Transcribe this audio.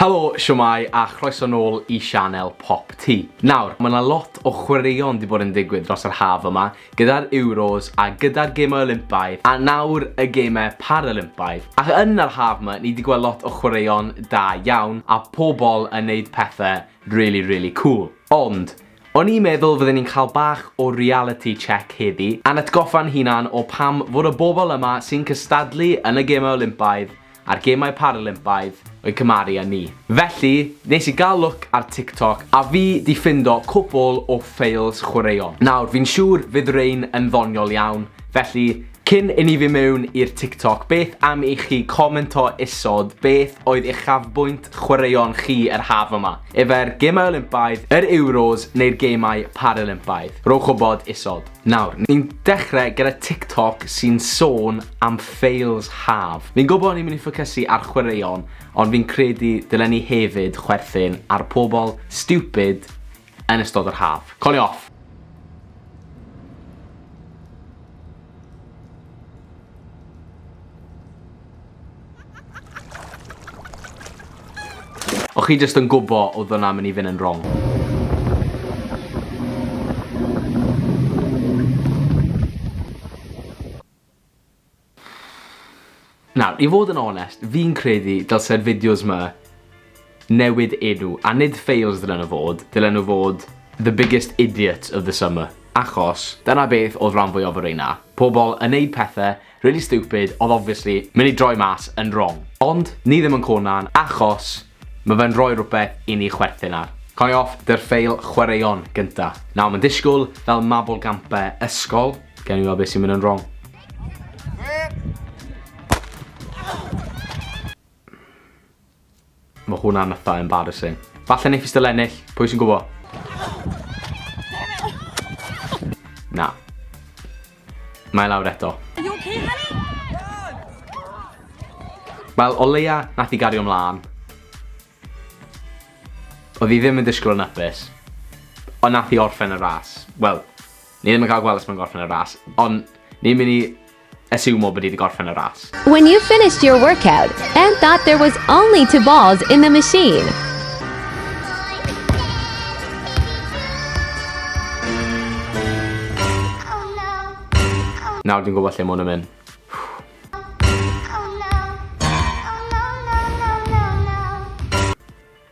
Helo, shwmae a chroeso nôl i sianel Pop Tee. Nawr, mae 'na lot o chwaraeon 'di bod yn digwydd dros yr haf yma, gyda'r Euros a gyda'r Gemau Olympaidd a nawr y Gemau Paralympaidd. Ac yn yr haf 'ma, ni 'di gweld lot o chwaraeon da iawn a pobl yn neud pethe rili, rili cŵl. Ond, o'n i'n meddwl fydden ni'n cael bach o reality check heddi, a'n atgoffa'n hunan o pam fod y bobl yma sy'n cystadlu yn y Gemau Olympaidd a'r Gemau Paralympaidd yn cymharu â ni. Felly, nes i gael lwc ar TikTok a fi 'di ffindo cwpwl o ffeils chwaraeon. Nawr, fi'n siŵr fydd rein yn ddoniol iawn, felly, cyn i ni fyn mewn i'r TikTok, beth am i chi commento isod beth oedd uchafbwynt chwaraeon chi yr haf yma? Efer Gemau Olympaidd, yr Euros neu'r Gemau Paralympaidd? Rhowch wybod isod. Nawr, ni'n dechre gyda TikTok sy'n sôn am fails haf. Fi'n gwybod ni'n mynd i ffocysu ar chwaraeon, ond fi'n credu dylen ni hefyd chwerthin ar pobl stupid yn ystod yr haf. Colio off! O chi jyst yn gwbo oedd hwnna mynd i fynd yn wrong. Nawr, i fod yn onest, fi'n credu dylse'r fideos ma newid enw, a nid fails ddylen nhw fod, ddylen nhw fod the biggest idiot of the summer. Achos, dyna beth oedd rhan fwyaf o'r reina. Pobl yn neud pethau Really stupid, odd obviously myn i droi mas yn wrong. Ond ni ddim yn Conan achos ma fe'n rhoi rwbeth i ni chwerthin ar. Cau off dy ffeil chwaraeon gynta. Nawr mae'n disgwyl fel mabolgampau ysgol. Gewn ni weld beth sy'n mynd yn wrong. Mae hwnna'n ytha embarrassing. Falle neith fi still ennill, pwy sy'n gwbo? Na. Mae lawr eto. Wel, o leia nath i gario mlaen. Oedd hi ddim yn disgwyl yn upus. Ond nath i orffen y ras. Wel, Ni ddim yn cael gweld os mae'n gorffen y ras, ond ni'n mynd i asiwmo bod hi wedi gorffen y ras. When you finished your workout and thought there was only two balls in the machine. Nawr dwi'n gwybod lle mwyn yn mynd.